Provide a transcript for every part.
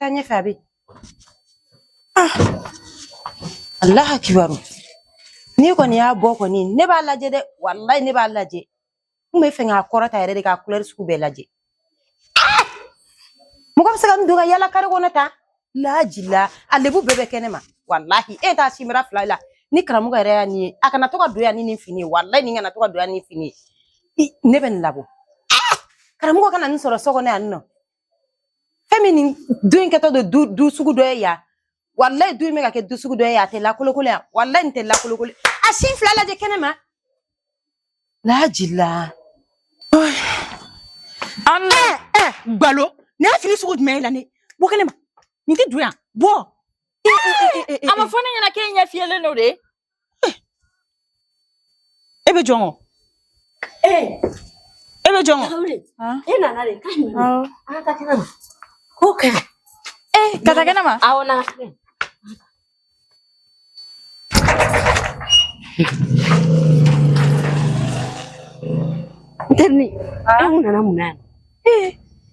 Sen ye Fabi. Ah. Allah akibaru. Ni kɔni y'a bɔ kɔni ne b'a lajɛ dɛ walayi ne b'a lajɛ n bɛ fɛ k'a kɔrɔta yɛrɛ de k'a kulɛri sugu bɛɛ lajɛ ah! mɔgɔ bɛ se ka nin don ka yaala kare kɔnɔ tan lajila a lebu bɛɛ bɛ kɛnɛ ma walahi e t'a sinbara fila lajɛ ni karamɔgɔ yɛrɛ ye nin ye a kana to ka don yan ni nin fini ye walayi nin kana to ka don yan ni fini ye ne bɛ nin labɔ ah! karamɔgɔ kana nin sɔrɔ so kɔnɔ yan nɔ fɛn min nin du in kɛtɔ don du sugu dɔ ye yan walayi du in bɛ ka kɛ du sugu dɔ ye yan a tɛ lakolokolo yan walayi nin tɛ lakolokolo a sin fila lajɛ kɛnɛ ma lajila ala ɛ gbalo nin ye fini sugu jumɛn ye la ne bɔ kɛnɛ ma nin tɛ don yan bɔ a ma fɔ ne ɲɛna k'e ɲɛ fiyɛlen don de eh. e bɛ jɔn kɔ eh. e bɛ jɔn kɔ e nana de k'a ɲɛ an ka taa kɛnɛ ma k'o kɛ ee ka taa kɛnɛ ma awɔ na n terinin e kun nana mun na yan ee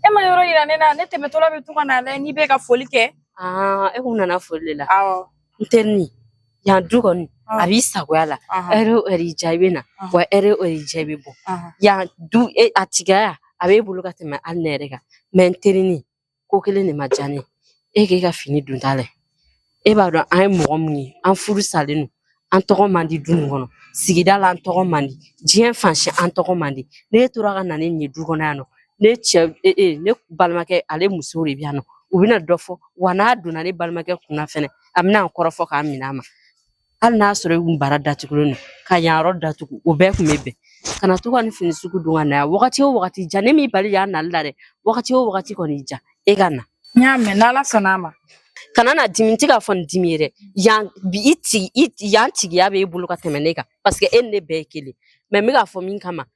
e ma yɔrɔ yira ne na ne tɛmɛtɔla bɛ to ka n'a lajɛ n'i bɛ ka foli kɛ e kun nana foli de la awɔ n terinin yan du kɔni a b'i sagoya la ɛri o ɛri diya i bɛ na wa ɛri o ɛri diya i bɛ bɔ yan du e, a tigiya a b'e bolo ka tɛmɛ hali ne yɛrɛ kan mɛ n terinin ko kelen de ma diya ne ye k'e ka fini donta lajɛ e b'a dɔn an ye mɔgɔ min ye an furusalen don an tɔgɔ man di du nin kɔnɔ sigida la an tɔgɔ man di diɲɛ fan si an tɔgɔ man di n'e tora ka na ni nin ye du kɔnɔ yan nɔ ne cɛ e, e, ne balimakɛ ale musow de bɛ yan nɔ u bɛna dɔ fɔ wa n'a donna ne balimakɛ kunna fɛnɛ a bɛna kɔrɔfɔ k'a minɛ a ma hali n'a sɔrɔ i kun bara datugulen don ka yan yɔrɔ datugu o bɛɛ kun bɛ bɛn kana to ka nin fini sugu don ka na yan wagati o wagati diya ne m'i bali yan nali la dɛ wagati o wagati kɔni diya e ka na n y'a mɛn n'ala sɔnna a ma kana na dimi n tɛ k'a fɔ nin dimi ye dɛ yan bi i tigi i yan tigiya bɛ e bolo ka tɛmɛ ne kan paseke e ni ne bɛɛ ye kelen mɛ n bɛ k'a fɔ min kama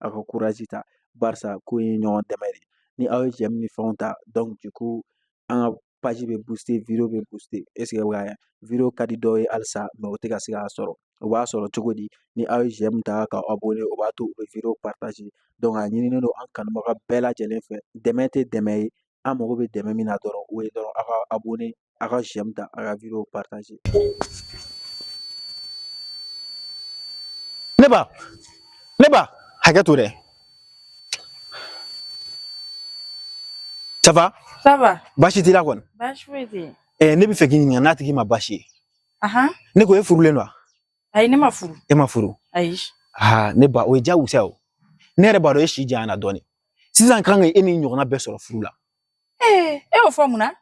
a ko kurasi ta barisa ko ye ɲɔgɔn dɛmɛ de ni aw ye cɛ ni fɛnw ta dɔn ko an ka pasi bɛ busi v bɛ busi ese v ka di dɔw ye halisa mɛ o tɛ ka se' sɔrɔ o b'a sɔrɔ cogo di ni aw ye cɛ min ta ka aw bolo o b'a to u bɛ v pataz dɔn ɲinin don an kanubaga bɛɛ lajɛlen fɛ dɛmɛ tɛ dɛmɛ ye an mago bɛ dɛmɛ min na dɔrɔn o ye dɔrɔn a ka abonné a ka j'aime ta a ka vidéo partager ne ba ne ba hakɛ to dɛ ça va ça va baasi t'i la kɔni baasi foyi tɛ yen eh, ne bɛ fɛ k'i ɲininka n'a tɛ k'i ma baasi ye ahan ne ko e furulen don wa ayi ne ma furu e ma furu ayi aa ne ba o ye diyagosa ye o ne yɛrɛ b'a dɔn e si janyana dɔɔnin sisan kan ka e ni ɲɔgɔnna bɛɛ sɔrɔ furu la ee e y'o fɔ mun na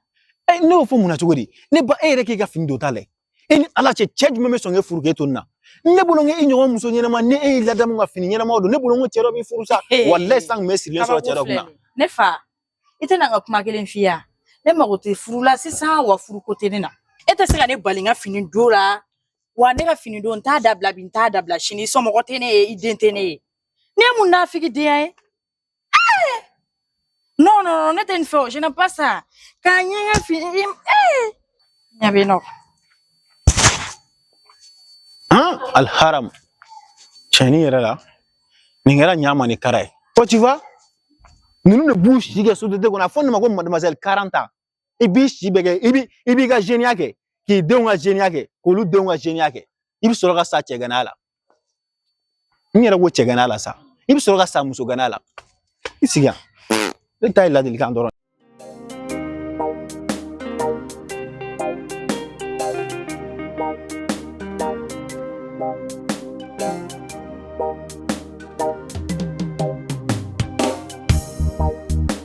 e ne y'o fɔ mun na cogo di ne ba e yɛrɛ k'i ka fini don ta lajɛ e ni ala cɛ cɛ jumɛn bɛ sɔn k'e furu k'e to nin na ne bolo n e ɲɔgɔn muso ɲɛnama ni e y'i ladamu ka fini ɲɛnamaw don ne bolo n ko cɛ dɔ b'i furu sa walayi san kun bɛ sirilen sɔrɔ cɛ dɔ kunna ne fa i tɛna n ka kuma kelen f'i ye ne mago tɛ furu la sisan wa furu ko tɛ ne na e tɛ se ka ne bali n ka fini don la wa ne ka fini don n t'a dabila bi n t'a dabila sini somɔgɔ tɛ ne ye i den tɛ ne ye Ne ye mun nafigidenya ye eh! non non non ne tɛ nin fɛ o je n'aime pas ça k'a ɲɛgɛn fi eh! ɲɛ bɛ nɔ han alharam cɛni yɛrɛ la nin kɛra ɲama ni kara ye ko tu vois ninnu de b'u si kɛ société kɔnɔ a fɔ ne ma ko mademoiselle quarante ans i b'i si bɛɛ kɛ i bi i b'i ka zeniya kɛ k'i denw ka zeniya kɛ k'olu denw ka zeniya kɛ i bɛ sɔrɔ ka sa cɛgana la n yɛrɛ ko cɛgana la sa i bɛ sɔrɔ ka sa musogana la i sigi yan ne ta ye ladilikan dɔrɔn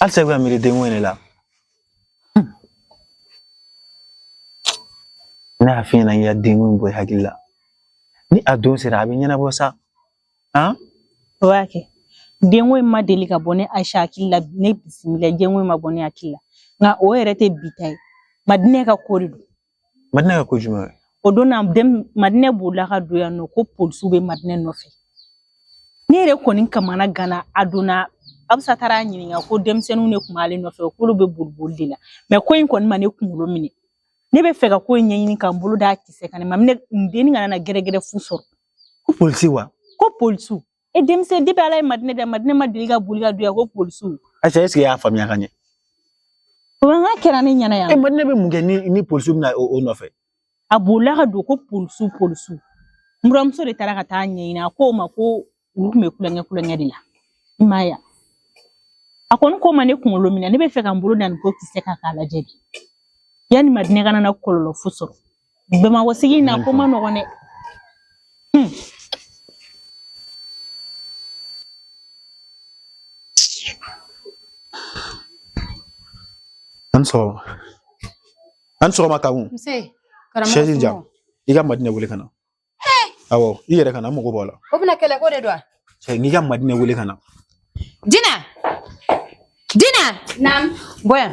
halisa i bɛ ka miiri denko in de la ne y'a f'i ɲɛna i ka denko in bɔ i hakili la ni a don sera a bɛ ɲɛnabɔ sa han o y'a kɛ denko in ma deli ka bɔ ne ayisa hakili la ne bisimila denko in ma bɔ ne hakili la nka o yɛrɛ tɛ bi ta ye madinɛ ka ko de don madinɛ ka ko jumɛn ye o don na den madinɛ bolila ka don yan nɔ ko polisiw bɛ madinɛ nɔfɛ ne yɛrɛ kɔni kamana ganna a don na abisa taara ɲininka ko denmisɛnninw de tun b'ale nɔfɛ k'olu bɛ boliboli de la mɛ ko in kɔni ma ne kunkolo minɛ ne bɛ fɛ ka ko in ɲɛɲini ka n bolo d'a kisɛ kan ne ma ne denni kana na gɛrɛgɛrɛ fu sɔrɔ ko polisi wa ko polisiw e denmisɛn depi ala ye madinɛ da madinɛ ma deli ka boli ka don yan ko polisiw ayisa eseke i y'a faamuya ka ɲɛ mankan kɛra ne ɲɛna yan e madinɛ bɛ mun kɛ ni ni polisiw bɛna o o nɔfɛ a bolila ka don ko polisiw polisiw n buramuso de taara ka taa ɲɛɲini a ko o ma ko olu tun bɛ tulonkɛ tulonkɛ de la i m'a ye wa? a kɔni ko ma ne kunkolo minɛ ne bɛ fɛ ka n bolo da nin ko kisɛ kan k'a lajɛ de yanni madinɛ kana na kɔlɔlɔ fu sɔrɔ Bamakɔ sigi na ko man nɔgɔn dɛ hmm. an sɔgɔma an sɔgɔma kakun sɛzi di yan i ka madinɛ wele ka na awɔ i yɛrɛ ka na n mago b'a la o bɛna kɛlɛ ko de don wa cɛ n'i ka madinɛ wele ka na dina dina naamu bɔ yan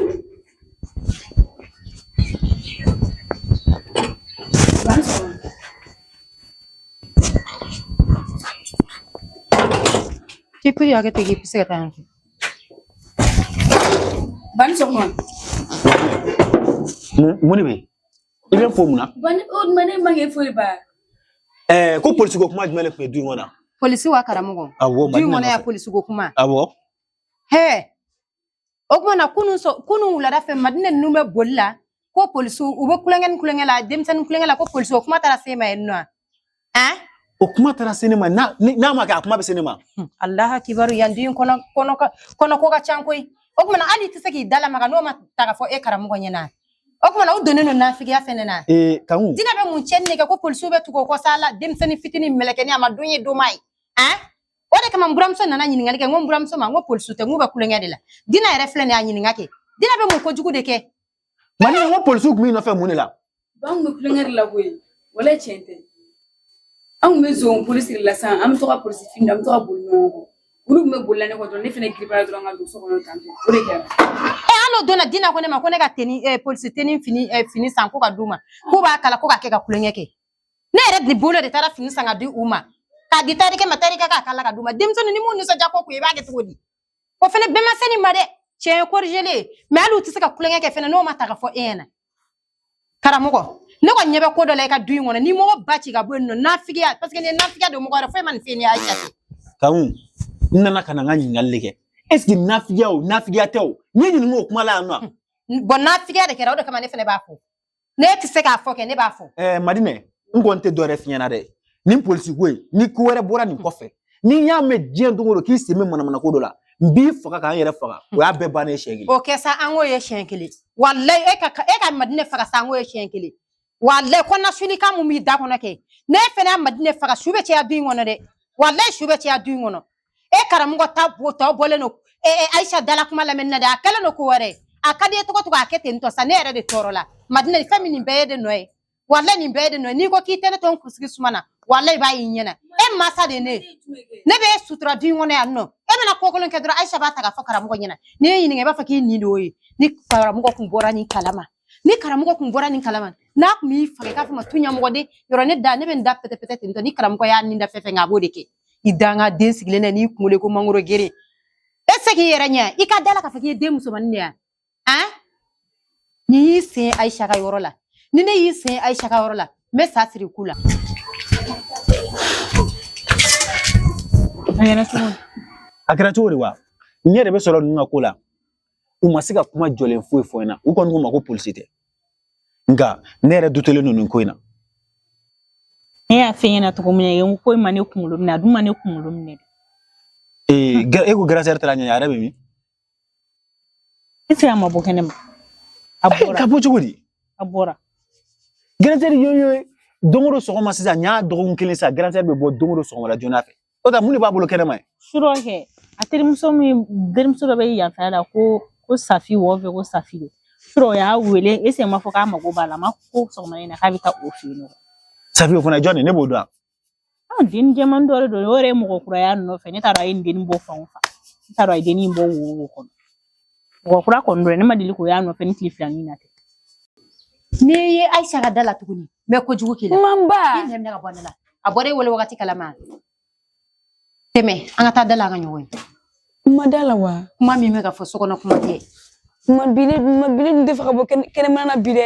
k'i piri hakɛ tɛ k'i bɛ se ka taa yan fɛ bani sɔgɔma mun de bɛ yen i bɛ n fo mun na. o tuma ne ma kɛ foyi ba. ɛɛ ko polisiko kuma jumɛn de tun bɛ du in kɔnɔ. polisi wa karamɔgɔ. awɔ madinɛ nɔfɛ du in kɔnɔ yan polisiko kuma. awɔ. hɛɛ o kuma na kunun sɔ kunun wulada fɛ madinɛ ninnu bɛ boli la ko polisiw u bɛ kulonkɛ ni kulonkɛ la denmisɛnnin kulonkɛ la ko polisiw kuma taara s'e ma yen nɔ ɛn o kuma taara se ne ma n'a ni- n'a ma kɛ a kuma bɛ se ne ma Hmm, alahu akibaru yan du in kɔnɔ kɔnɔ ka- kɔnɔ ko ka can koyi o kuma na hali i tɛ se k'i dalamaga n'o ma ta ka fɔ e karamɔgɔ ɲɛna o kuma na o donnen don nafigiya fɛnɛ na ee kanku dina bɛ mun cɛnni de kɛ ko polisiw bɛ tugu o kɔ sa la denmisɛnnin fitinin mɛlɛkɛni a ma don ye don m'a ye ɛn o de kama n buramuso nana ɲininkali kɛ n ko n buramuso ma n ko polisiw tɛ n k'u bɛ kulonkɛ de la dina yɛrɛ filɛ nin ye a ɲininka kɛ dina bɛ mun kojugu de kɛ Madinɛ ko polisiw tun b'i nɔfɛ mun de la an tun bɛ kulonkɛ la wala tiɲɛ tɛ an tun bɛ zon polisi la sisan an bɛ to ka polisi an bɛ to ka boli olu tun bɛ boli ne dɔrɔn ne fana gba dɔrɔn ka don so kɔnɔ tan o de kɛra e hali o don na dina ko ne ma ko ne ka teni eh, polisi teni fini eh, fini san ko ka d'u ma k'u b'a kala ko ka kɛ ka kulonkɛ kɛ ne yɛrɛ de bolo de taara fini san ka di u ma k'a di tayɛrikɛ ma tayɛrikɛ k'a kala ka d'u ma denmisɛnnin ni mun nisɔndiya ko kun i b'a kɛ cogo di o fana bɛɛ ma se nin ma dɛ tiɲɛ korijele mɛ hali u tɛ se ka kulonkɛ kɛ fana n'o ma ta ka fɔ e ɲɛna karamɔgɔ ne kɔni ɲɛ bɛ ko dɔ la i ka du in kɔnɔ ni mɔgɔ ba ci ka bɔ yen nɔ nafigiya parce que nin ye nafigiya don mɔgɔ wɛrɛ foyi ma nin f'i ye ni ayisa tɛ kanku n nana ka na n ka ɲininkali de kɛ est ce que nafigiya o nafigiya tɛ o n y'i ɲininka o kuma la yan nɔ bɔn nafigiya de kɛra o de kama ne fana b'a fɔ ne tɛ se k'a fɔ kɛ ne b'a fɔ. ɛɛ madinɛ n kɔni tɛ dɔwɛrɛ f'i ɲɛna dɛ nin polisi ko in ni ko wɛrɛ bɔra nin kɔfɛ ni n y'a mɛn diɲɛ don o don k'i sen bɛ manamana ko dɔ la n b'i faga ka n yɛrɛ faga o y'a bɛɛ bannen ye siɲɛ kelen. o kɛ sa an k'o ye siɲɛ kelen walayi e ka e ka madinɛ faga sa an k'o ye siɲɛ kelen walayi ko nasuni kan mun b'i da kɔnɔ kɛ n'e fana ye madinɛ faga su bɛ caya du in kɔnɔ dɛ walayi su bɛ caya du in kɔnɔ. e karamɔgɔ ta bo tɔ bɔlen don e e ayisa da la kuma lamɛnni na dɛ a kɛlen don ko wɛrɛ a ka d'i ye to ka to k'a kɛ ten tɔ sa ne yɛrɛ de tɔɔrɔla madina fɛn min nin bɛɛ y'e de nɔ ye wala nin bɛɛ y'e de nɔ ye n'i ko k'i tɛ ne to n kunsigi suma na wala i b'a y'i ɲɛna e masa de ye ne ye ne bɛ e sutura du in kɔnɔ yan nɔ e bɛna ko kolon kɛ dɔrɔn ayisa b'a ta k'a fɔ karamɔgɔ ɲɛna ni n y'i ɲininka i b'a fɔ k'i nin de y'o ye ni karamɔgɔ kun bɔra nin kalama ni karamɔgɔ kun bɔra nin kalama n'a kun b'i faga i k'a fɔ ma tu ɲɛmɔgɔden yɔrɔ ne da ne bɛ n da pɛtɛpɛtɛ ten tɔ ni karamɔgɔ y'a nin da fɛn fɛn kɛ a b'o de kɛ i dangaden sigilen na n'i kunkolo ko mangoro geren e se k'i yɛrɛ ɲɛ i ka da la k'a fɔ k'i ye den musomanin de ye an ni y'i sen ayisa ka yɔrɔ la ni ne y'i sen ayisa ka yɔrɔ la n bɛ sa siri i ku la a kɛra cogo di wa ɲɛ de bɛ sɔrɔ ninnu ka ko la u ma se ka kuma jɔlen foyi fɔ n ɲɛna u kɔni ko n ma ko polisi tɛ nka ne yɛrɛ dutelen don nin ko in na ne y'a f'e ɲɛna cogo min na yen ko in ma ne kunkolo minɛ a dun ma ne kunkolo minɛ ee e ko grande sœur taara ɲɛ a yɛrɛ bɛ min e tɛ a ma bɔ kɛnɛ ma a bɔra ka bɔ cogo di a bɔra grande sœur yoyo don o don sɔgɔma sisan n y'a dɔgɔkun kelen sisan grande sœur bɛ bɔ don o don sɔgɔmada joona fɛ o da mun de b'a bolo kɛnɛma yen surɔ kɛ a terimuso min terimuso dɔ bɛ yanfɛ la ko ko safi wɔ fɛ ko safi de surɔ o y'a wele e sen ma fɔ k'a mago b'a la ma ko sɔgɔma in na k'a bɛ taa o fɛ yen safi o fana jɔn de ne b'o dɔn a den jɛman dɔ de don o yɛrɛ ye mɔgɔ kura y'a nɔfɛ ne t'a dɔn a ye nin dennin bɔ fan o fan ne t'a dɔn a ye dennin bɔ wo o wo kɔnɔ Mɔgɔ kura kɔni don ne ma deli k'o y'a nɔfɛ ni tile fila nin na tɛ n'i ye Ayisa ka da la tuguni n bɛ kojugu k'i la Manba i ɲɛ minɛ ka bɔ ne la a bɔra e wolo wagati kalama tɛmɛ an ka taa da la an ka ɲɔgɔn ye kuma da la wa kuma min bɛ ka fɔ so kɔnɔ kuma tɛ kuma bi ne kuma bi ne dun tɛ fɛ ka bɔ kɛnɛma na bi dɛ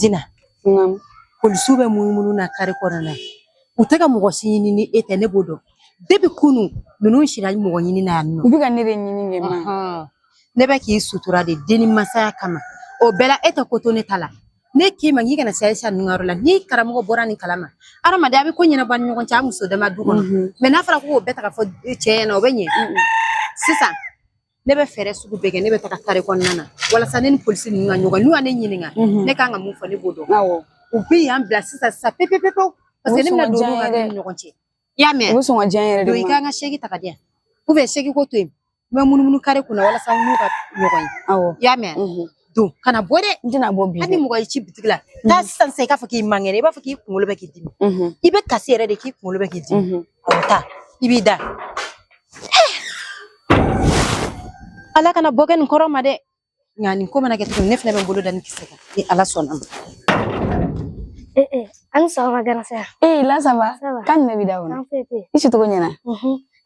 Dina, polisiw bɛ munumunu na kare kɔnɔna u tɛ ka mɔgɔ si ɲini ni e tɛ ne b'o dɔn depuis kunu ninnu sira mɔgɔ ɲinina yan nɔ u bɛ ka ne de ɲini n k'e ma ne bɛ k'i sutura de den ni masaya kama o bɛɛ la e tɛ ko to ne ta la ne k'i ma k'i kana se ayisa ninnu ka yɔrɔ la ni karamɔgɔ bɔra nin kalama an dama de bɛ ko ɲɛnabɔ an ɲɔgɔn cɛ an muso dama du kɔnɔ mais n'a fɔra k'o bɛɛ ta ka fɔ cɛ ɲɛna o bɛ ɲɛ sisan ne bɛ fɛɛrɛ sugu bɛɛ kɛ ne bɛ taga kare kɔnɔna na walasa ne ni polisi ninnu ka ɲɔgɔn n'u ka ne ɲininka ne kan ka mun fɔ ne b'o dɔn u bɛ yan bila sisan sisan pepepepewu parce que ne bɛna don olu ka ɲɔgɔn cɛ i y'a mɛn o sɔɔni ka jan yɛrɛ de i ka kan ka sɛki ta ka di yan u bɛ sɛki ko to yen n bɛ munumunu kare kunna walasa n n'u ka ɲɔgɔn ye awɔ i y'a mɛn don kana bɔ dɛ n tɛna bɔ bi hali mɔgɔ y'i ci bitigi la taa sisan sisan i k'a fɔ k'i man kɛnɛ i b'a fɔ k'i kunkolo bɛ k'i dimi i bɛ kasi yɛrɛ de k'i kunkolo bɛ k'i dimi taa i b'i da ala kana bɔ kɛ nin kɔrɔ ma dɛ Nka nin ko mana kɛ cogo ne fana bɛ bolo da ni kisɛ kan ni ala sɔnna ma. Ee ee an ni sɔgɔma grande sœur. Ee là ça va kan ne bɛ da kɔnɔ. I si cogo ɲɛna.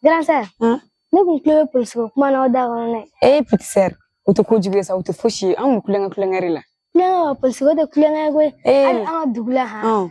Grande sœur. Ne kun tulo bɛ polisi ko kuma na aw da kɔnɔ dɛ. Ee petite sœur o tɛ ko jugu ye sa o tɛ fosi ye an kun kulonkɛ kulonkɛ de la. Kulonkɛ wa polisi ko tɛ kulonkɛ ye koyi. Hali an ka dugu la han.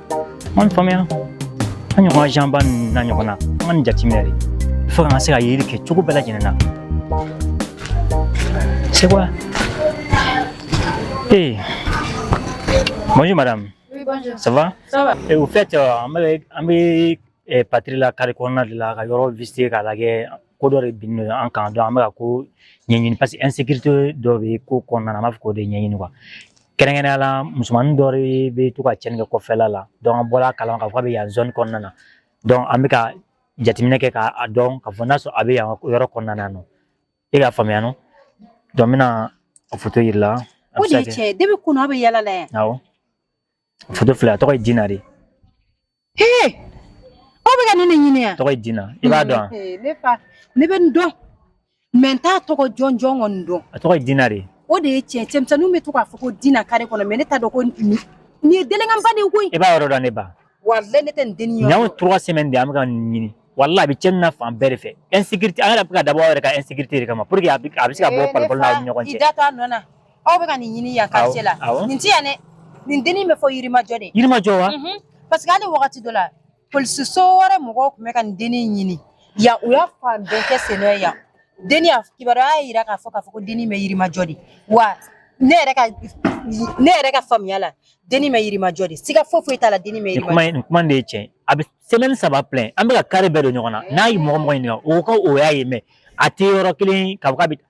An faamuya an ɲɔgɔn janba na ɲɔgɔn na an ka nin jateminɛ de fo kana se ka yeli kɛ cogo bɛɛ lajɛlen na c'est quoi ee bonjour madame Oui, bonjour. ça va Ça va Et au fait, euh, an bɛ an bɛ eh, patiri la kare kɔnɔna de la ka yɔrɔ visiter k'a lajɛ ko dɔ de binna an kan donc an bɛ ka ko ɲɛɲini parce que insécurité dɔ bɛ ko kɔnɔna na an b'a fɛ k'o de ɲɛɲini quoi kɛrɛnkɛrɛnnenya la musomanin dɔ bɛ to ka cɛnni kɛ kɔfɛla la donc an bɔra a kalama k'a fɔ a bɛ yan zone kɔnɔna na donc an bɛ ka jateminɛ kɛ k'a dɔn k'a fɔ n'a sɔrɔ a bɛ yan yɔrɔ kɔnɔna na e k'a faamuya non donc n bɛna a foto yir'i la o de ye tiɲɛ ye depuis kunun a bɛ yala la yan awɔ foto filɛ a tɔgɔ ye Dina de Hee aw bɛ ka ne de ɲini wa? Tɔgɔ ye Dina i b'a dɔn wa? Ee ne fa ne bɛ nin dɔn mais n t'a tɔgɔ jɔnjɔn kɔni dɔn A tɔgɔ ye Dina de ye. o de ye tiɲɛ cɛmisɛnninw bɛ to k'a fɔ ko Dina kare kɔnɔ mais ne t'a dɔn ko nin nin ye délinquant ba de ye koyi I b'a yɔrɔ dɔn ne ba. walayi ne tɛ nin dennin Nin yɔrɔ y'anw dɔn trois semaines de ye an bɛ ka nin ɲini walayi a bɛ cɛnni na fan bɛɛ de fɛ insécurité an yɛrɛ bɛ ka dabɔ aw yɛrɛ ka insécurité de kama pour que a bɛ a bɛ se ka bɔ Ee ne palon palon na aw ni ɲɔgɔn fa cɛ. i da to a nɔ na aw bɛ ka nin ɲini yan quartier la awɔ, awɔ. nin tɛ yan dɛ nin dennin bɛ fɔ yirimajɔ de yirimajɔ wa Mhm. parce que hali wagati dɔ la polisiso wɛrɛ mɔgɔw tun bɛ ka nin dennin ɲini yan u y'a fan bɛɛ kɛ sennɔ ye yan dennin ka kibaruya y'a jira k'a fɔ k'a fɔ ko dennin bɛ yirimajɔ de wa ne yɛrɛ ka ne yɛrɛ ka faamuya la dennin bɛ yirimajɔ de siga foyi foyi t'a la dennin bɛ nin kuma yirimajɔ in nin kuma in de ye tiɲɛ ye a bɛ semaine saba plein an bɛ ka kare bɛɛ don ɲɔgɔn na n'an ye mɔgɔ mɔgɔ ɲininka o ko o y'a ye mais a tɛ yɔrɔ kelen k'a fɔ k'a bɛ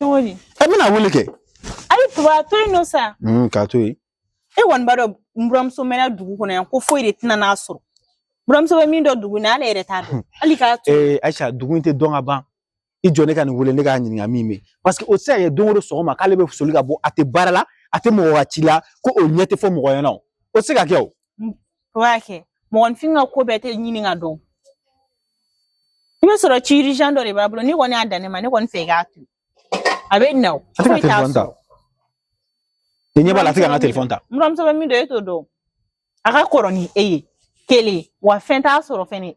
cogo di e bɛna wele kɛ ayi tuba to yen nɔ sa mm, k'a to yen e kɔni b'a dɔn n buramuso mɛnna dugu kɔnɔ yan ko foyi de tɛna n'a sɔrɔ buramuso bɛ min dɔn dugu in na ale yɛrɛ t'a dɔn hmm. hali k'a to ee eh, Ayisa dugu in tɛ dɔn ka ban i jɔ ne ka nin wele ne k'a ɲininka min bɛ parce que o tɛ se ka kɛ don o don sɔgɔma k'ale bɛ soli ka bɔ a tɛ baara la a tɛ mɔgɔ ka ci la ko o ɲɛ tɛ fɔ mɔgɔ ɲɛna o tɛ se ka kɛ o o b'a kɛ mɔgɔninfin ka ko bɛɛ tɛ ɲini ka dɔn i bɛ sɔrɔ ci urgent dɔ de b'a bolo n'i kɔni y'a dan ne ma ne kɔni fɛ i k'a to a bɛ na o foyi t'a sɔrɔ i ɲɛ b'a la a tɛ ka n ka telefɔni ta buramuso bɛ min dɔn e t'o dɔn a ka kɔrɔ ni e ye kelen wa fɛn t'a sɔrɔ fɛnɛ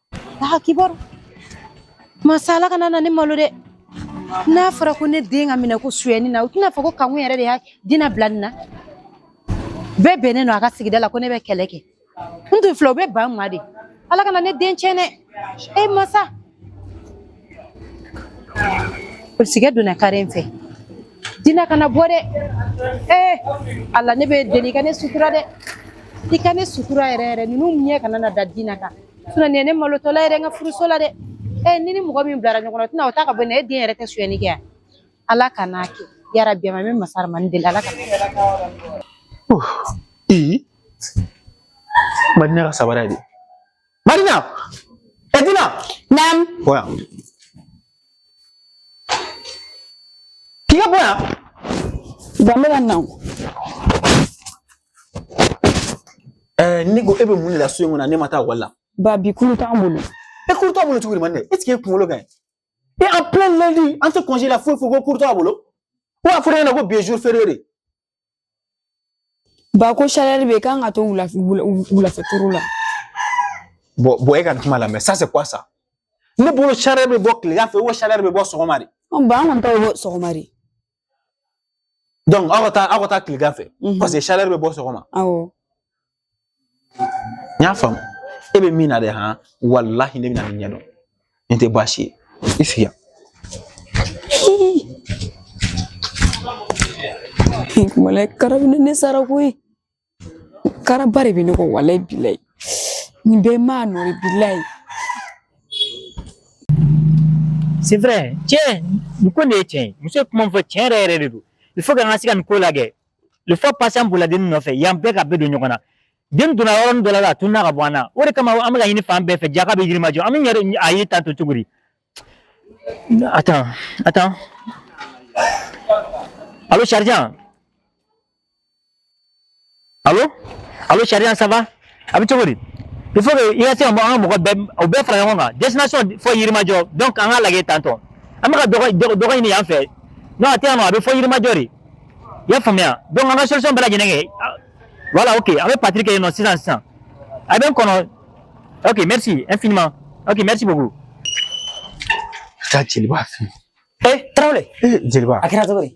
Aa kibaru masa Ala kana na ne malo dɛ n'a fɔra ko ne den ka minɛ ko suyɛni na u tɛna fɔ ko Kankun yɛrɛ de ye Dina bila nin na bɛɛ bɛ ne dɔn a ka sigida la ko ne bɛ kɛlɛ kɛ n tun filɛ u bɛ ban n ma de Ala kana ne den tiɲɛ dɛ e masa polisikɛ donna kare in fɛ dina kana bɔ dɛ ee ala ne b'i deli i ka ne sutura dɛ i ka ne sutura yɛrɛ yɛrɛ ninnu ɲɛ kana na da dina kan nin ye ne malotɔla yɛrɛ n ka furuso la dɛ ee ni ni mɔgɔ min bilara ɲɔgɔn na tɛna o ta ka bɔ ne den yɛrɛ tɛ suyɛni kɛ yan ala kan'a kɛ yarabi ma n bɛ masa ramani deli ala kana madina ka sabara de Madina! E Dina! Naam. Bɔ yan. K'i ka bɔ yan. Bambela nangu. Eh, ne ko e bɛ mun de la so in kɔnɔ n'e ma taa ekɔli la. Ba bi cours t'an bolo. E cours t'aw bolo cogo di man ne? Est-ce que e kunkolo ka ɲi? E en plein lundi an tɛ congé la foyi foyi ko cours t'aw bolo? Ou a fɔra e ɲɛna ko bi ye jour férié de ye. Ba ko chaleur bɛ k'an ka to wulafɛ turu la bon bon e ka kuma lamɛn ça c'est quoi ça ne bolo chaleur bɛ bɔ tilegan fɛ ou chaleur bɛ bɔ sɔgɔma de ba an kɔni ta bɛ bɔ sɔgɔma de donc aw ka taa aw ka taa tilegan fɛ parce que chaleur bɛ bɔ sɔgɔma awɔ n y'a faamu e bɛ min na dɛ han walahi ne bɛna nin ɲɛdɔn nin tɛ baasi ye i sigi yan. walayi kara bɛ ne sara koyi karaba de bɛ ne kɔ walayi bilayi nin bɛɛ maa nɔ de bilayi. c'est vrai tiɲɛ nin ko de ye tiɲɛ ye muso ye kuma min fɔ tiɲɛ yɛrɛ yɛrɛ de don il faut que an ka se ka nin ko lajɛ la fois passée an bolila dennin nɔfɛ yan bɛɛ ka bɛɛ don ɲɔgɔn na den donna yɔrɔnin dɔ la a tununna ka bɔ an na o de kama an bɛ ka ɲini fan bɛɛ fɛ jaka bɛ yirimajɔ an bɛ yɛrɛ a ye ta to cogo di attends attends allô sergent allô allô sergent ça va a bɛ cogo di il faut que i ka se ka an ka mɔgɔ bɛɛ u bɛɛ fara ɲɔgɔn kan destination fɔ yirimajɔ donc an k'a lajɛ tantôt an bɛ ka dɔgɔ dɔgɔ dɔgɔ ɲini yan fɛ non a tɛ yan nɔ a bɛ fɔ yirimajɔ de i y'a faamuya donc an ka solution bɛɛ lajɛlen kɛ ah, voilà ok an bɛ patrouille kɛ yen nɔ sisan sisan a bɛ n kɔnɔ ok merci infiniment ok merci beaucoup. taa jeliba fɛ ee tarawele ee jeliba a kɛra cogo di.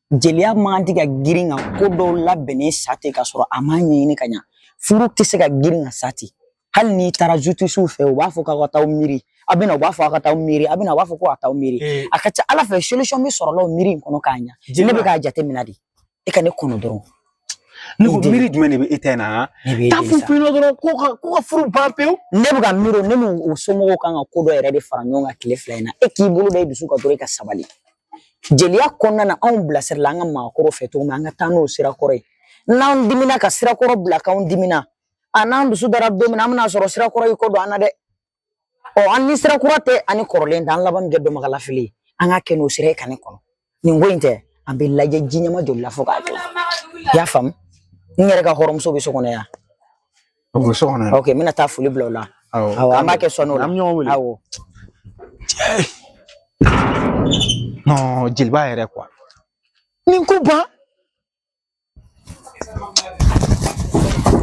jeliya mɔgɔ tɛ ka girin ka ko dɔw labɛnnen sa ten ka sɔrɔ a ma ɲɛɲini ka ɲa furu tɛ se ka girin ka sa ten hali n'i taara jutisiw fɛ u b'a fɔ k'aw ka taa miiri aw bɛ na u b'a fɔ aw ka taa miiri aw bɛ na u b'a fɔ ko ka taa miiri eh. a ka ca a la fɛ solution bɛ sɔrɔ la o miiri in kɔnɔ k'a ɲa ne bɛ k'a jateminɛ de e ka ne kɔnɔ dɔrɔn ne ko miiri jumɛn de bɛ e ta in na taa f'u fɛ dɔrɔn ko ka ko ka furu ban pewu ne bɛ ka miiri ne n'u somɔgɔw kan ka ko dɔ yɛrɛ de fara ɲɔgɔn kan tile fila in na e k'i bolo da i dusu kan dɔrɔn i ka sabali Jeliya kɔnɔna na anw bilasirala an ka maakɔrɔw fɛ cogo min an ka taa n'o sira kɔrɔ ye n'an diminna ka sira kɔrɔ bila k'anw diminna a n'an dusu dara don min na an bɛna sɔrɔ sira kɔrɔ y'i kɔ don an na dɛ ɔ an ni sira kura tɛ an ni kɔrɔlen tɛ an laban bɛna kɛ dɔnbagalafili ye an ka kɛ n'o sira ye ka ne kɔnɔ nin ko in tɛ an bɛ lajɛ ji ɲɛma joli la fo k'a jɔ i y'a faamu n yɛrɛ ka hɔrɔnmuso bɛ so kɔnɔ yan O bɛ so kɔnɔ yan. Ok n bɛna taa foli bila o la. Awɔ. Awɔ an b'a kɛ sɔɔni o la. An bɛ ɲɔgɔn wele. Awɔ. Non jeliba yɛrɛ quoi. Nin ko ban.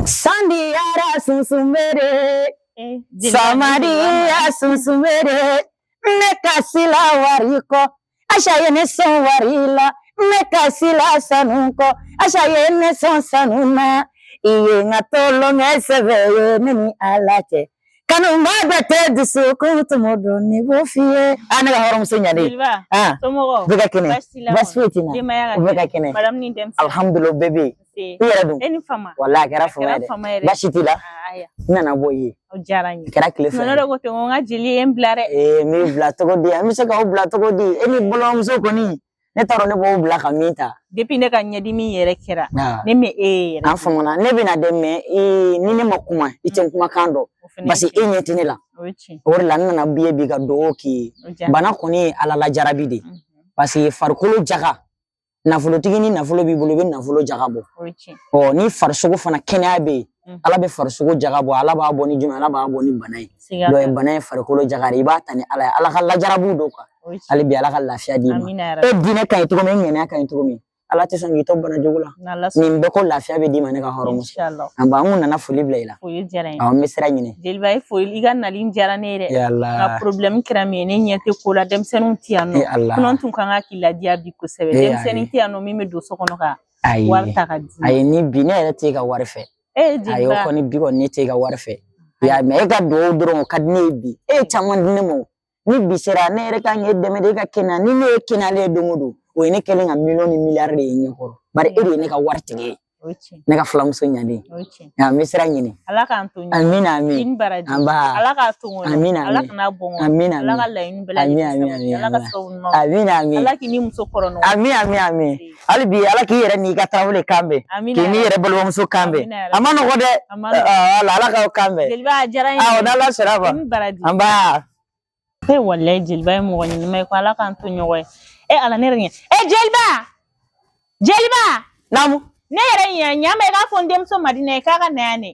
San diyara sunsun bɛ den. San ma diya sunsun bɛ den. Ne kasila wari kɔ. Aisha ye ne sɔn wari la ne kasila sanu kɔ Aisha ye ne sɔn sanu na i ye n ka tolon kɛ sɛbɛ ye ne ni Ala cɛ kanunba bɛ tɛ dusukun tumu don ne b'o f'i ye a ne ka hɔrɔnmuso ɲalen Jeliba ah somɔgɔw bɛɛ ka kɛnɛ baasi t'i la baasi foyi tɛ n na denbaya ka u bɛɛ ka kɛnɛ kɛnɛ madamu ni denmisɛnninw alhamdulilayi bɛɛ bɛ yen i yɛrɛ dun e ni fama walayi a kɛra fama ye dɛ baasi t'i la n nana bɔ i ye o diyara n ye kɛra tile fila ye ko ten ko n ka jeli ye n bila dɛ ee n b'i bila cogo di an bɛ se k'aw bila cogo di e ni balimamuso kɔni ne t'a dɔn ne b'o bila ka min ta depuis ne ka ɲɛdimi yɛrɛ kɛra ne ma e ye yɛrɛ an famana ne bɛ na dɛ mais ni ne ma kuma i tɛ kumakan dɔn parce que e ɲɛ tɛ ne la o de la n nana b'i ye bi ka dugawu k'i ye bana kɔni ye ala lajarabi de parce que farikolo jaga nafolotigi ni nafolo b'i bolo i bɛ nafolo jaga bɔ ɔ ni farisogo fana kɛnɛya bɛ yen mm. ala bɛ farisogo jaga bɔ ala b'a bɔ ni jumɛn ala b'a bɔ ni bana ye donc bana ye farikolo jaga de i b'a ta ni ala ye ala ka lajarabiw don quoi hali bi ala ka lafiya d'i ma e diinɛ ka ɲi cogo min e ŋaniya ka ɲi cogo min ala tɛ sɔn k'i to bana jugu la nin bɛɛ kɔ lafiya bɛ d'i ma ne ka hɔrɔnmuso an b'an kun nana foli bila i la foli diyara n ye. Awɔ n bɛ sira ɲini. Jeliba i foli i ka nali in diyara ne ye dɛ. Ya Ala. Nka problème kɛra min ye ne ɲɛ tɛ ko la denmisɛnninw tɛ yan nɔ. Ya Ala. Sinon n tun ka kan ka k'i ladiya bi kosɛbɛ. Ee ayi. Denmisɛnnin tɛ yan nɔ min bɛ don so kɔnɔ ka Ayi. wari ta ka d'i ma. Ayi ni bi ne yɛrɛ t'e ka wari fɛ. Ee Ayi o jeliba kɔni bi kɔni ne t'e ka wari fɛ. I y'a ye mais e ka dugawu dɔrɔn o ka di ne ye bi. E ye caman di ne ma o. ni bi sera ne yɛrɛ kan k'e dɛmɛ de e ka kɛnɛya ni ne y'e kɛnɛyalen ye don o don o ye ne kelen ka miliyɔn ni miliyari de ye ɲɛ kɔrɔ bari e de ye ne ka waritigi ye ne ka fulamuso ɲalen nka n bɛ sira ɲini ala k'an to amina amina anba ala k'a to amina ala kana bɔn amina ala ka laɲini bɛɛ lajɛlen amina amina amina ala k'i ni musokɔrɔ amina amina amina hali bi ala k'i yɛrɛ n'i ka tarawele kan bɛn k'i n'i yɛrɛ balimamuso kan bɛn a ma nɔgɔ dɛ wala ala k'aw kan bɛn awɔ n'ala sera fa an ba e walayi jeliba ye mɔgɔ ɲɛnama ye ko ala k'an to ɲɔgɔn ye e ala ne yɛrɛ ɲɛ e jeliba jeliba naamu ne yɛrɛ ɲɛ ɲa ma i k'a fɔ n denmuso madina ye k'a ka na yan ne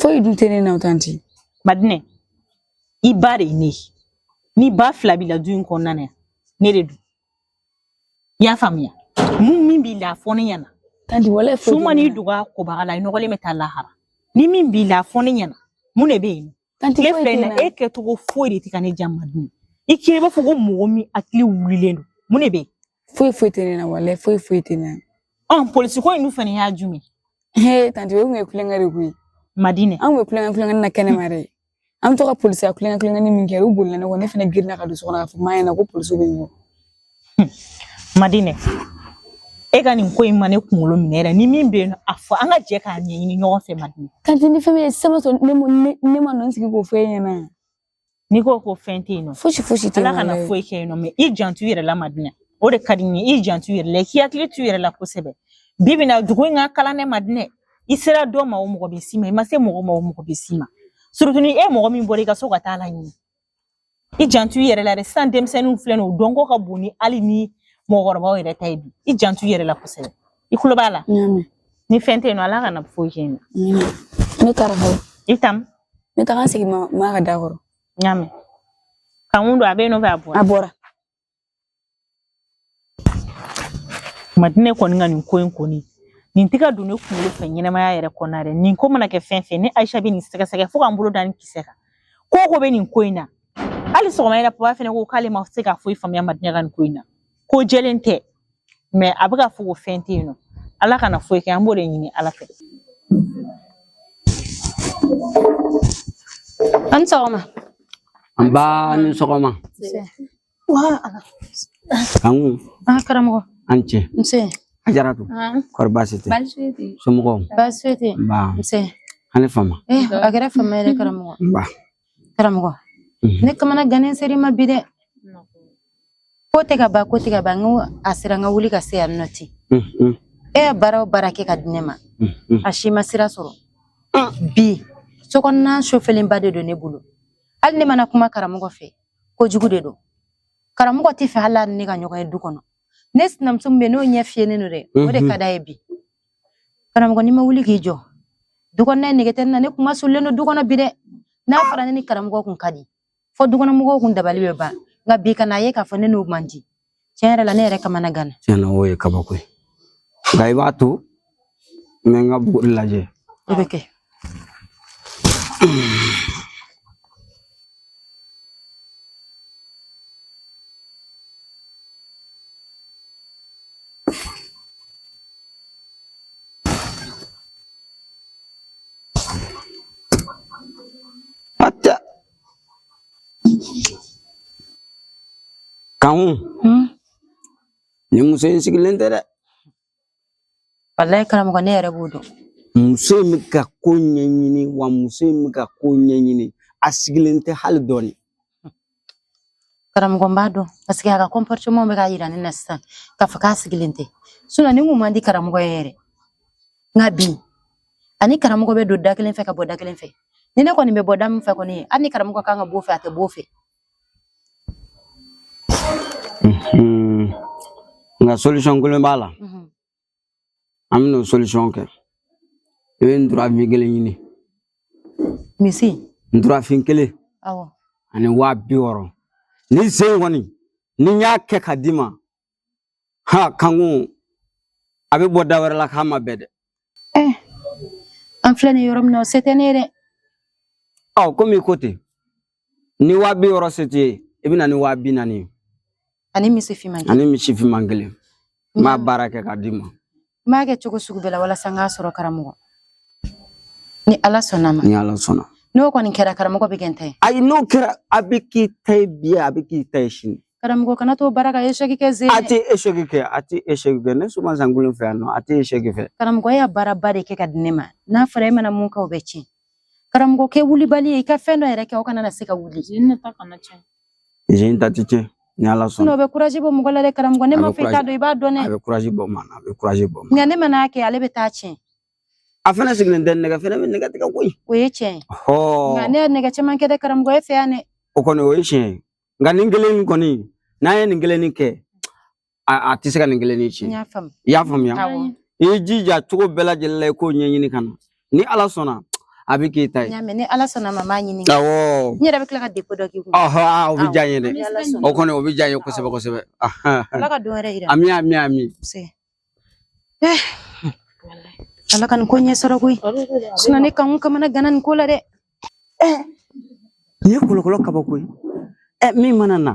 foyi dun tɛ ne na o tanti madinɛ i ba de ye ne ye ni ba fila b'i la du in kɔnɔna na yan ne de don i y'a faamuya mun min b'i la a fɔ ne ɲɛna tanti foyi tɛ ne na. wala su man'i dog'a kobaga la i nɔgɔlen bɛ taa lahara ni min b'i la a fɔ ne ɲɛna mun de bɛ yen tile fila in na e kɛcogo foyi de tɛ ka ne ja madinɛ i k'i b'a fɔ ko mɔgɔ min hakili wulilen don mun de bɛ yen foyi foyi tɛ ne na walayi foyi foyi tɛ ne na ɔn polisi ko in dun fana y'a jumɛn he tanti o tun ye kulonkɛ de koyi madinɛ an tun bɛ kulonkɛ na kɛnɛma dɛ an bɛ to ka polisiya kulonkɛ min kɛ u bolila ne kɔ ne fana girinna ka don so kɔnɔ k'a fɔ ma ɲɛna ko polisiw bɛ n kɔ madinɛ e ka nin ko in ma ne kunkolo minɛ yɛrɛ ni min bɛ yen a fɔ an ka jɛ k'a ɲɛɲini ɲɔgɔn fɛ madinɛ tanti ni fɛn bɛ yen sɛbɛn sɔrɔ ne ne ma nɔ sigi k'o fɔ e ɲɛna n'i ko ko fɛn tɛ yen nɔ fosi fosi tɛ yen ala kana foyi kɛ yen nɔ mɛ i janto i yɛrɛ la madinɛ o de ka di n ye i janto i yɛrɛ la k'i hakili to i yɛrɛ la kosɛbɛ bi bi in na dugu in ka kalan dɛ madinɛ i sera dɔ ma o mɔgɔ bɛ s'i ma i ma se mɔgɔ ma o mɔgɔ bɛ s'i ma surtout ni e mɔgɔ min bɔra i ka so ka taa la ɲini i janto i yɛrɛ la dɛ sisan denmisɛnninw filɛ nin ye u dɔnko ka bon ni hali ni mɔgɔkɔrɔbaw yɛrɛ ta ye bi i janto i yɛrɛ la kosɛbɛ i kulo b'a la ni fɛn tɛ yen nɔ ala kana foyi kɛ yen nɔ ne taara fɔlɔ i tam ne taara n sigi ma ka da kɔrɔ n y'a mɛn kanku don a bɛ yen nɔ fɛ a bɔra a bɔra Madinɛ kɔni ka nin ko in kɔni nin tɛ ka don ne kunkolo fɛ ɲɛnamaya yɛrɛ kɔnɔna dɛ nin ko mana kɛ fɛn fɛn ne ayisa bɛ nin sɛgɛsɛgɛ fo ka n bolo da nin kisɛ kan ko o ko bɛ nin ko in na hali sɔgɔma yɛrɛ papa fana ko k'ale ma se ka foyi faamuya madinɛ ka nin ko in na ko jɛlen tɛ mɛ a bɛ ka fɔ ko fɛn tɛ yen nɔ ala kana foyi kɛ an b'o de ɲini ala fɛ a ni sɔgɔma nba i ni sɔgɔma kanku ah, karamɔgɔ a ni ce nse ajaratu ah. kɔri baasi tɛ somɔgɔw baasi tɛ nse a ni fama eh, a kɛra fama yɛrɛ karamɔgɔ karamɔgɔ ne kamana gannen ser'i ma bi dɛ ko tɛ ka ban ko tɛ ka ban n ko a sera n ka wuli ka se yan nɔ ten e ye baara o baara kɛ ka di ne ma a si ma sira sɔrɔ bi sokɔnɔna sofelenba de don ne bolo hali ne mana kuma karamɔgɔ fɛ kojugu de don karamɔgɔ t'a fɛ hali ne ka ɲɔgɔn ye du kɔnɔ ne sinamuso min bɛ n'o ɲɛ fiyɛlen don dɛ o de ka d'a ye bi karamɔgɔ n'i ma wuli k'i jɔ dukɔnɔna nege tɛ n na ne kuma solilen don du kɔnɔ bi dɛ n'a fɔra ne ni karamɔgɔ kun ka di fɔ dukɔnɔmɔgɔw kun dabali bɛ ban nka bi kana ye k'a fɔ ne n'o man di tiɲɛ yɛrɛ la ne yɛrɛ kamana ganna tiɲɛna o ye kabako ye nka i b'a to n bɛ n ka buguri lajɛ o bɛ kɛ Kankun nin muso in sigilen tɛ dɛ Walayi karamɔgɔ ne yɛrɛ b'o dɔn. Muso in bɛ ka ko ɲɛɲini wa muso in bɛ ka ko ɲɛɲini a sigilen tɛ hali dɔɔni. Karamɔgɔ n b'a dɔn paseke a ka comportement bɛ k'a yira ne na sisan k'a fɔ k'a sigilen tɛ sinon nin kun man di karamɔgɔ ye yɛrɛ nka bi a ni karamɔgɔ bɛ don da kelen fɛ ka bɔ da kelen fɛ ni ne kɔni bɛ bɔ da min fɛ kɔni hali ni karamɔgɔ kan ka b'o fɛ a tɛ b'o fɛ Mm-hmm. nka solution kelen b'a la mm-hmm. an bɛn'o solution kɛ i bɛ nturafin kelen ɲini misi nturafin kelen ani waa bi wɔɔrɔ nin sen kɔni ni n y'a kɛ ka d'i ma ha kankun a bɛ bɔ da wɛrɛ la k'a ma bɛɛ dɛ eh, an filɛ nin yɔrɔ min na o se tɛ ne ye dɛ ɔ komi i ko ten ni waa bi wɔɔrɔ se t'i ye i bɛ na ni waa bi naani ye ani misi finman ani misi finman kelen n b'a baara kɛ k'a d'i ma n b'a kɛ cogo sugu bɛɛ la walasa n k'a sɔrɔ karamɔgɔ ni ala sɔnna ma ni ala sɔnna n'o kɔni kɛra karamɔgɔ bɛ kɛ n ta ye ayi n'o kɛra a bɛ k'i ta ye bi a bɛ k'i ta ye sini karamɔgɔ kana to baara ka échec kɛ sen a tɛ échec kɛ a tɛ échec kɛ ne suma sankolon fɛ yan nɔ a tɛ échec kɛ karamɔgɔ e y'a baaraba de kɛ ka di ne ma n'a fɔra e mana mun kɛ o bɛ tiɲɛ Karamɔgɔ kɛ wulibali ye i ka fɛn dɔ yɛrɛ kɛ o kana na se ka wuli sen nin ta kana cɛn sen in ta tɛ tiɲɛ ni ala sɔnna sinon o bɛ kurazi bɔ mɔgɔ la dɛ karamɔgɔ ne A m'a bɛ fɔ i t'a dɔn i b'a dɔn a dɛ bɛ kurazi bɔ maa na a bɛ kurazi bɔ maa na. nka ne man'a kɛ ale bɛ taa tiɲɛ a fana sigilen tɛ nɛgɛ fana bɛ nɛgɛ tigɛ koyi o ye tiɲɛ ye nka hɔɔ ne ye nɛgɛ caman kɛ dɛ karamɔgɔ e fɛ yan dɛ o kɔni o ye tiɲɛ ye nka nin kelen in kɔni n'an ye nin kelen in kɛ a tɛ se ka nin kelen in tiɲɛ i y'a faamuya i y'i jija cogo bɛɛ lajɛlen la i k'o ɲɛɲini ka na ni ala sɔnna a bɛ k'i ta ye ni ala sɔnna ma n b'a ɲini awɔ n yɛrɛ bɛ tila ka depo dɔ k'i kun ɔhɔn o bɛ diya n ye dɛ o kɔni o bɛ diya n ye kosɛbɛ kosɛbɛ ala ka don wɛrɛ yira ami ami ami ala ka nin ko ɲɛ sɔrɔ koyi sinɔn ne kan kamanaganna nin ko la dɛ nin ye kolokolo kabako ye min mana na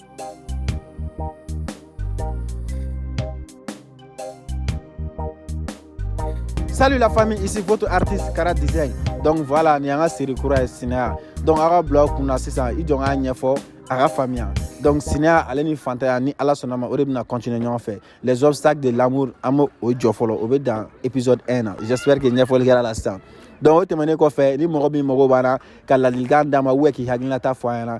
Salut la famille, ici votre artiste Kara Design. Donc voilà, ni an ka série kura ye Sinaya. Donc a ka bila kunna sisan i jɔ n k'a ɲɛfɔ a ka faamuya. Donc Sinaya ale ni fantanya ni Ala sɔnna ma o de bɛna continuer ɲɔgɔn fɛ. Les obstacles de l'amour an b'o jɔ fɔlɔ o bɛ dan épisode 1 na. J'espère que ɲɛfɔli kɛra la sisan. Donc o tɛmɛnen kɔfɛ ni mɔgɔ min mago b'an na ka ladilikan d'an ma ou bien k'i hakilinata fɔ an ɲɛna